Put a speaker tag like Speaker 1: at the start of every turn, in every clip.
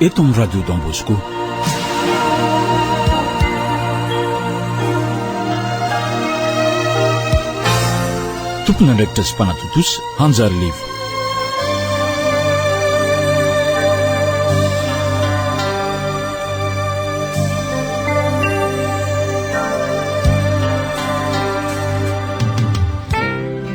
Speaker 1: eto amin'ny Radio Don Bosco. Tompon'andraikitra sy mpanatontosa Hanjary Levo.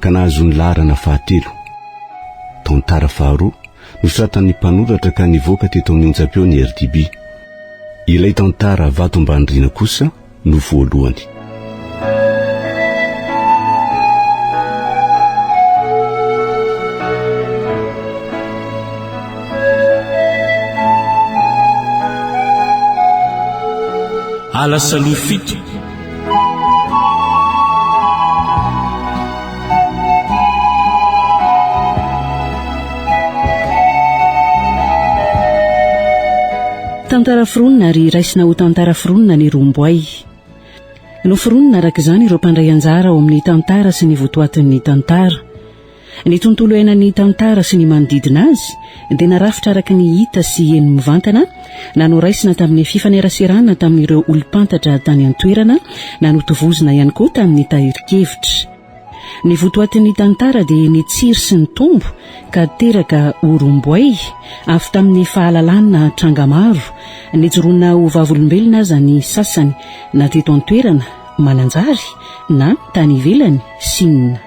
Speaker 2: ka nahazo ny laharana fahatelo. Tantara faharoa nosoratan'ny mpanoratra ka nivoaka teto amin'ny onjam-peo ny RDB. Ilay tantara Vato Ambanirina kosa no voalohany.
Speaker 1: Alasaloha fito
Speaker 3: Tantara foronina ary raisina ho tantara foronina ny romboay. Noforonina araka izany ireo mpandray anjara ao amin'ny tantara sy ny votoatin'ny tantara. Ny tontolo iainan'ny tantara sy ny manodidina azy dia narafitra araka ny hita sy heno mivantana na noraisina tamin'ny fifaneraserana tamin'ireo olom-pantatra tany an-toerana na notovozina ihany koa tamin'ny tahirin-kevitra. Ny votoatin'ny tantara dia ny tsiry sy ny tombo ka teraka ho romboay avy tamin'ny fahalalana tranga maro nijoroana ho vavolombelona aza ny sasany na teto an-toerana, Mananjary, na tany ivelany, Sina.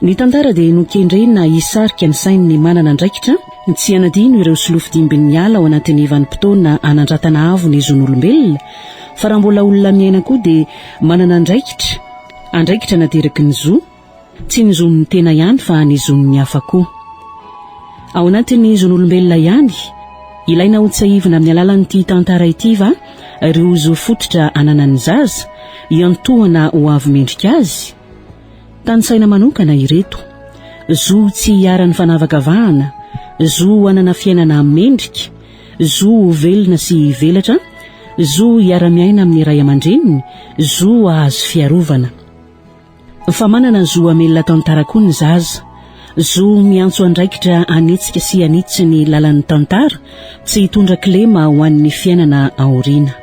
Speaker 3: Ny tantara dia nokendrena hisarika ny sain'ny manana andraikitra ny tsy hanadino ireo solofidimbin'ny ala ao anatin'ny vanim-potoana hanandratana avo ny zon'olombelona, fa raha mbola olona miaina koa dia manana andraikitra, andraikitra nateraky ny zo, tsy ny zon'ny tena ihany fa ny zon'ny hafa koa. Ao anatin'ny zon'olombelona ihany, ilaina hotsahivina amin'ny alalan'ity tantara ity va ireo zo fototra ananan'ny zaza, iantohana ho avy mendrika azy? Tanisaina manokana ireto, zo tsy hiharan'ny fanavakavahana, zo hanana fiainana mendrika, zo ho velona sy hivelatra, zo hiara-miaina amin'ny ray aman-dreniny, zo hahazo fiarovana. Fa manana zo hamelona tantara koa ny zaza, Zo miantso andraikitra hanetsika sy hanitsy ny lalan'ny tantara, tsy hitondra kilema ho an'ny fiainana aoriana.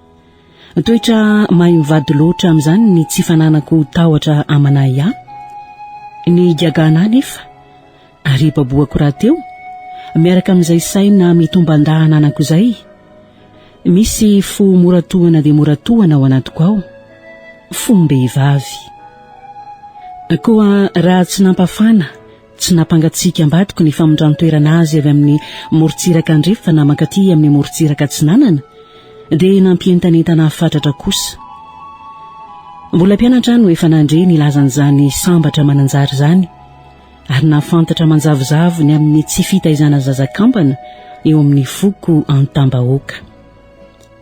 Speaker 3: Toetra mahay mivady loatra amin'izany ny tsy fananako tahotra aman'ahy ahy. Ny gagana anefa, ary ibabohako rahateo, miaraka amin'izay saina mitomban-dahy ananako izay, misy fo mora tohana dia mora tohana ao anatiko ao, fom-behivavy. Koa raha tsy nampafana Tsy nampangatsiaka ambadiko ny famindran-toerana azy avy amin'ny morontsiraka andrefana mankaty amin'ny morontsiraka atsinanana, dia nampientanentana ahy fatratra kosa. Mbola mpianatra aho no efa nandre ny lazan'izany sambatra manan-jary izany, ary nahafantatra manjavozavo ny amin'ny tsy fitaizana zaza kampana eo amin'ny foko antam-bahoaka.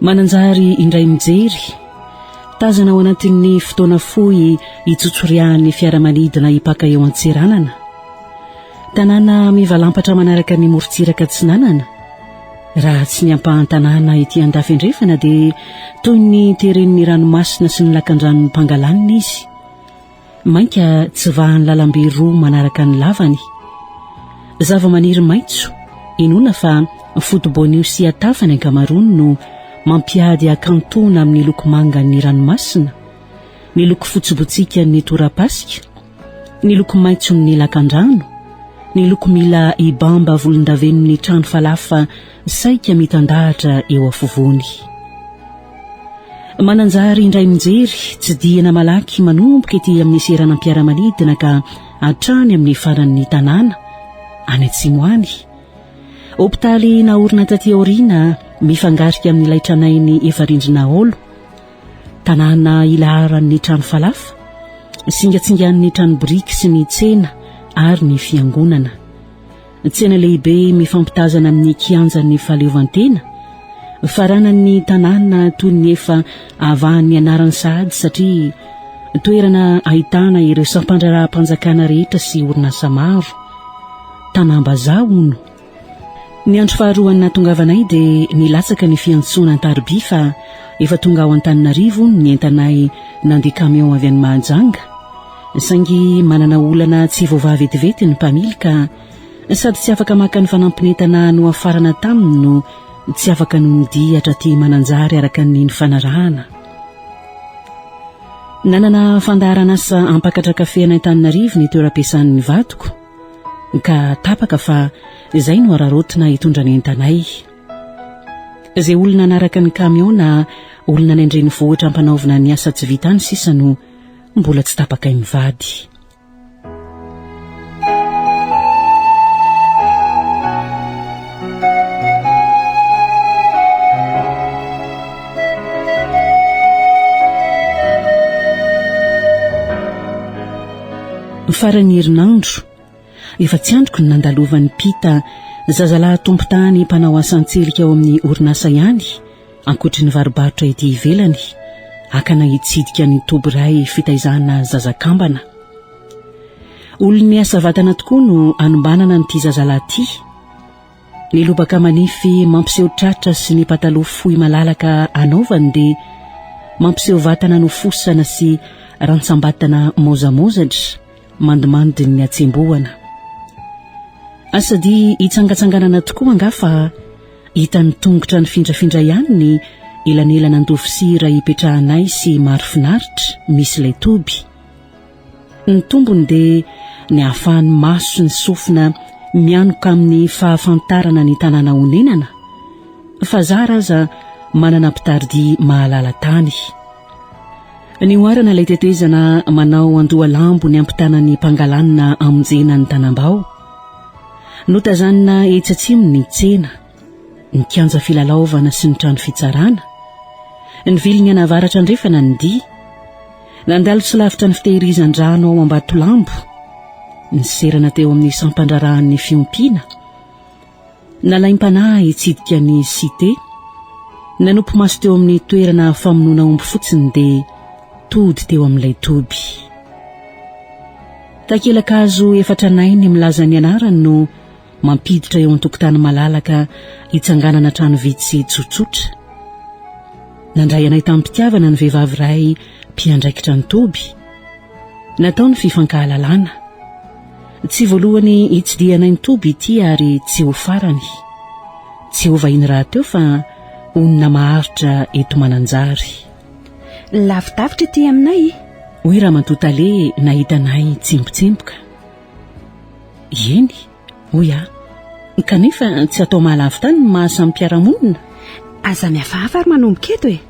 Speaker 3: Mananjary indray mijery. Tazana ao anatin'ny fotoana fohy itsotsorihàn'ny fiaramanidina hipaka eo Antsiranana. Tanàna mivalampatra manaraka ny morontsiraka atsinanana. Raha tsy ny ampahan-tanàna ety andafy andrefana dia toy ny teren'ny ranomasina sy ny lakandranon'ny Pangalanina izy. Mainka tsy vahan'ny lalambe roa manaraka ny lavany. Zavamaniry maitso, inoana fa foto-boanio sy atafa ny ankamaroany no mampiady hakantoana amin'ny loko mangan'ny ranomasina, ny loko fotsy botsikan'ny torapasika, ny loko maitson'ny lakandrano, ny loko mila hibamba volondavenon'ny trano falafa Saika mitandahatra eo afovoany. Mananjary indray mijery, tsidihina malaky manomboka ety amin'ny seranam-piaramanidina ka hatrany amin'ny faran'ny tanàna, any atsimo any. Hopitaly naorina taty aoriana, mifangarika amin'ilay tranainy efa rindrina haolo. Tanàna ilaharan'ny trano falafa, singatsingan'ny trano biriky sy ny tsena ary ny fiangonana. Tsena lehibe mifampitazana amin'ny kianjan'ny fahaleovantena, faranan'ny tanàna toy ny efa avahan'ny anarany sahady satria toerana ahitana ireo sampandraharaham-panjakana rehetra sy orinasa maro. Tanàm-bazaha hono. Ny andro faharoan'ny nahatongavanay dia nilatsaka ny fiantsoana an-tarobia fa efa tonga ao Antananarivo hono ny entanay nandeha kamiao avy any Mahajanga. Saingy manana olana tsy voavaha vetivety ny mpamily ka sady tsy afaka maka ny fanampin'entana nohafarana taminy no tsy afaka nonodihy hatraty Mananjary araka ny nifanarahana. Nanana fandaharan'asa hampakatra kafe an'Antananarivo ny toeram-piasan'ny vadiko ka tapaka fa izay no hararaotina hitondra ny entanay. Izay olona hanaraka ny kamiao na olona any an-drenivohitra hampanaovina ny asa tsy vita any sisa no Mbola tsy tapakay mivady Faran'ny herinandro Efa tsy andriko ny nandalovan'i Pita zazalahy tompon-tany mpanao asan-tselika ao amin'ny orinasa ihany, ankoatry ny varobarotra ety ivelany, akana hitsidika ny toby iray fitaizana zaza kambana. Olon'ny asa vatana tokoa no anombanana an'ity zazalahy ity. Ny lobaka manify mampiseho tratra sy ny pataloha fohy malalaka anaovany dia mampiseho vatana nofosana sy rantsambatana maozamaozatra, mandimandy ny hatsembohana. Asa dia hitsangatsanganana tokoa angaha fa hitan'ny tongotra nifindrafindra ihany ny elanelana an-dovisia iray ipetrahanay sy Marofinaritra misy ilay toby. Ny tombony dia ny hahafahan'ny maso sy ny sofina mianoka amin'ny fahafantarana ny tanàna onenana, fa zara aza manana mpitaridia mahalala tany. Nihoarana ilay tetezana manao andohalambo ny ampitana ny Pangalanina hamonjena ny Tanambao. Notazanina etsy atsimo ny tsena, ny kianja filalaovana sy ny trano fitsarana. Nivily ny an'avaratra andrefana ny dihy. Nandalo tsy lavitra ny fitehirizan-drano ao Ambatolambo. Niserana teo amin'ny sampan-draharahan'ny fiompiana. Nalaim-panahy hitsidika ny Cité. Nanopy maso teo amin'ny toerana famonoana omby fotsiny dia tody teo amin'ilay toby. Takela-kazo efa tranainy milaza ny anarany no mampiditra eo an-tokotany malalaka hitsanganana trano vitsy tsotsotra. Nandray anay tamim-pitiavana ny vehivavy iray mpiandraikitra ny toby. Natao ny fifankahalalana. Tsy voalohany hitsidihanay ny toby ity ary tsy ho farany. Tsy ho vahiny rahateo fa honina maharitra eto Mananjary.
Speaker 4: Lavidavitra ity aminay e! Hoy Ramatoa
Speaker 3: Tale nahita anay nitsembotsemboka. Eny, hoy aho, kanefa tsy atao mahalavo tany ny maha samy mpiara-monina? Aza
Speaker 4: mihafahafa ary manomboka eto e!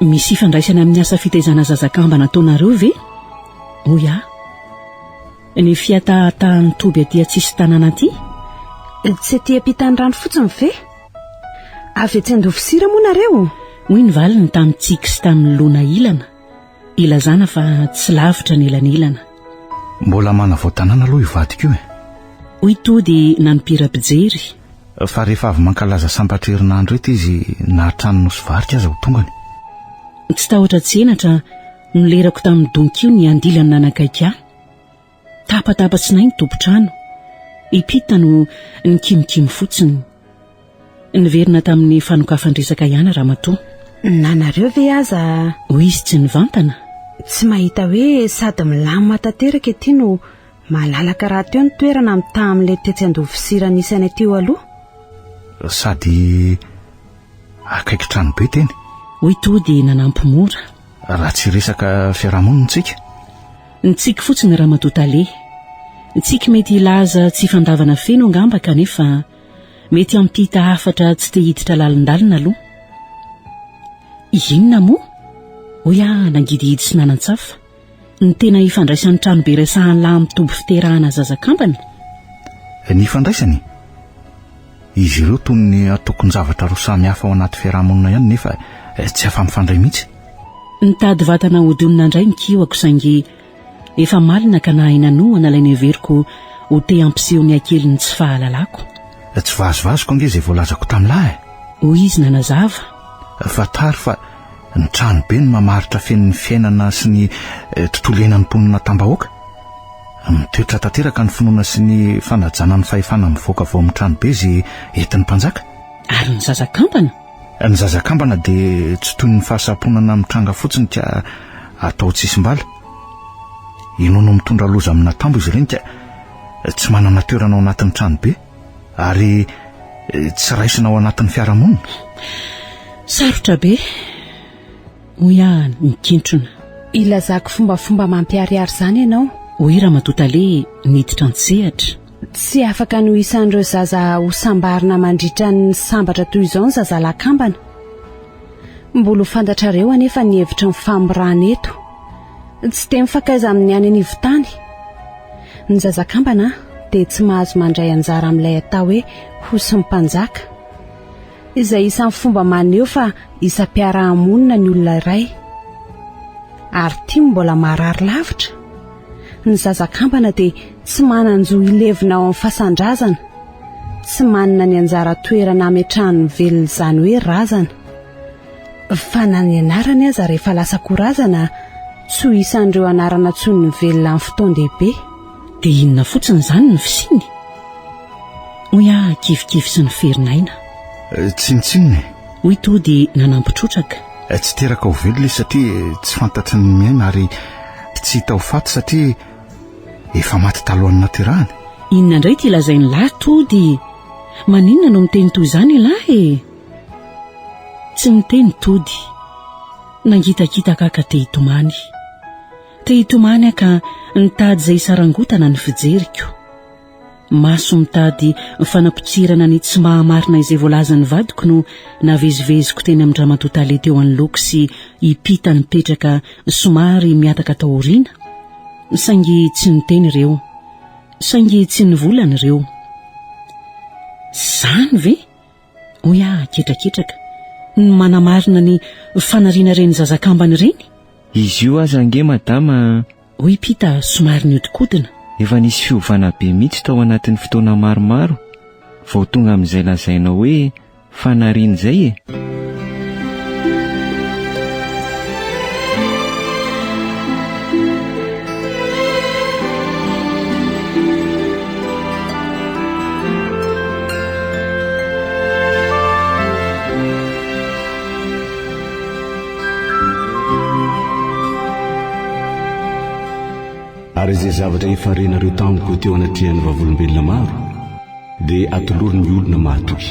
Speaker 4: Misy ifandraisany amin'ny asa fitaizana zaza kamba nataonareo ve? Hoy aho. Ny fihatahatahan'ny toby aty an-tsisin-tanàna aty? Tsy aty am-pitan'ny rano fotsiny ve? Avy atsy Andovosira moa nareo? Hoy ny valiny
Speaker 3: tamin'i Tsiky sy tamin'i Lona ilana. Ilazana fa tsy lavitra ny elanelana. Mbola
Speaker 5: manavao tanàna aloha io vadiko io e. Hoy Tody
Speaker 3: nanompira mpijery. Fa rehefa
Speaker 5: avy mankalaza sambatra herinandro eto izy na hatrany Nosy Varika aza ho tongany. Tsy
Speaker 3: tahotra tsy henatra, nolerako tamin'ny donkio ny andilan'ny nanakaiky ahy. Tapatapatsnay ny tompon-trano. I Pita no nikimikimy fotsiny. Niverina tamin'ny fanokafan-dresaka ihany Ramatoa. Na nareo ve
Speaker 4: aza. Hoy izy tsy
Speaker 3: nivantana. Tsy mahita
Speaker 4: hoe sady milamina tanteraka ety no malalaka rahateo ny toerana mitaha amin'ilay tetsy Andovosira nisy anay teo aloha? Sady
Speaker 5: akaiky tranobe teny. Hoy Tody
Speaker 3: nanampy mora. Raha tsy resaka
Speaker 5: fiarahamonina isika? Ny tsiky
Speaker 3: fotsiny Ramatoa Tale. Ny tsiky mety hilaza tsy fandavana feno angamba kanefa mety hampita hafatra tsy te hiditra lalindalina aloha. Inona moa? hoy aho nangidihidy sy nanan-tsafa. Ny tena ifandraisan'ny tranobe resahan'ny lahy amin'ny toby fiterahana zaza kambana?
Speaker 5: Ny ifandraisany? Izy ireo toy ny antokon-javatra roa samy hafa ao anaty fiaraha-monina ihany nefa tsy afa-mifandray mihitsy. Nitady
Speaker 3: vatana hodonina indray ny kihoko saingy efa malina ka nahay nanohana ilay neveriko ho te hampiseho ny hakelin'ny tsy fahalalako. Tsy vazivaziko
Speaker 5: ange izay voalazako tamin'lah e! Hoy izy
Speaker 3: nanazava. Fantaro
Speaker 5: fa Ny tranobe no mamaritra feno ny fiainana sy ny eh, tontolo iainan'ny mponina tambahoaka. Mitoetra tanteraka ny finoana sy ny fanajana ny fahefana mivoaka avy ao amin'ny tranobe izay entin'ny mpanjaka. Ary ny
Speaker 3: zazakambana? Ny zazakambana
Speaker 5: dia tsy toy ny fahasamponana mitranga fotsiny ka atao tsisim-bala. Inoana ho mitondra loza amina tambo izy ireny ka tsy manana toerana ao anatin'ny tranobe. Ary tsy raisina ao anatin'ny fiarahamonina?
Speaker 3: Sarotra be, hoy aho nikintrona. Ilazako
Speaker 4: fombafomba mampiharihary izany ianao? Hoy Ramatoa Tale
Speaker 3: niditra an-tsehatra. Tsy afaka
Speaker 4: ny ho isan'ireo zaza hosambarina mandritra ny sambatra toy izao ny zazalahy kambana. Mbola ho fantatrareo anefa ny hevitry ny famorana eto. Tsy dia mifankaiza amin'ny any anivon-tany ny zaza-kambana dia tsy mahazo mandray anjara amin'ilay atao hoe hosin'ny mpanjaka, izay isan'ny fomba maneho fa isam-piaraha-monina ny olona iray. Ary tim mbola maharary lavitra, ny zaza-kambana dia tsy manan-jo hilevina ao amin'ny fasan-drazana, tsy manana ny anjara toerana ametrahany ny velona izany hoe razana. Fa na ny anarany aza rehefa lasa ko razana tsy ho isan'ireo anarana tsoin'ny mivelona amin'ny fotoan-dehibe. Dia inona
Speaker 3: fotsiny izany ny fisiany? Hoy aho kivikivy sy niferin'aina. Tsinontsinona
Speaker 5: e! Hoy Tody
Speaker 3: nanampy trotraka. Tsy teraka ho
Speaker 5: velona izy satria tsy fantatry ny miaina ary tsy hita ho faty satria efa maty talohan'ny naterahany. Inona indray ity
Speaker 3: lazain'ilahy Tody? Maninona no miteny toy izany ialahy e? Tsy niteny Tody. Nangitakitaka haka te-hitomany. Te-hitomany aho ka nitady izay hisarangotana ny fijeriko. Maso mitady fanapotsirana ny tsy maha-marina izay voalazan'ny vadiko no naveziveziko teny amin-dRamatoa Tale teo anoloako sy i Pita nipetraka somary mihataka tao aoriana. Saingy tsy niteny ireo. Saingy tsy nivolana ireo. Izany ve? hoy aho ketraketraka, ny manamarina ny fanariana ireny zaza kambana ireny? Izy io aza
Speaker 6: ange madama a! hoy Pita
Speaker 3: somary nihodinkodina. Efa nisy fiovana
Speaker 6: be mihitsy tao anatin'ny fotoana maromaro vao tonga amin'izay lazainao hoe fanariana izay e!
Speaker 2: Ary izay zavatra efa renareo tamiko teo anatrehan'ny vavolombelona maro dia atolory ny olona mahatoky.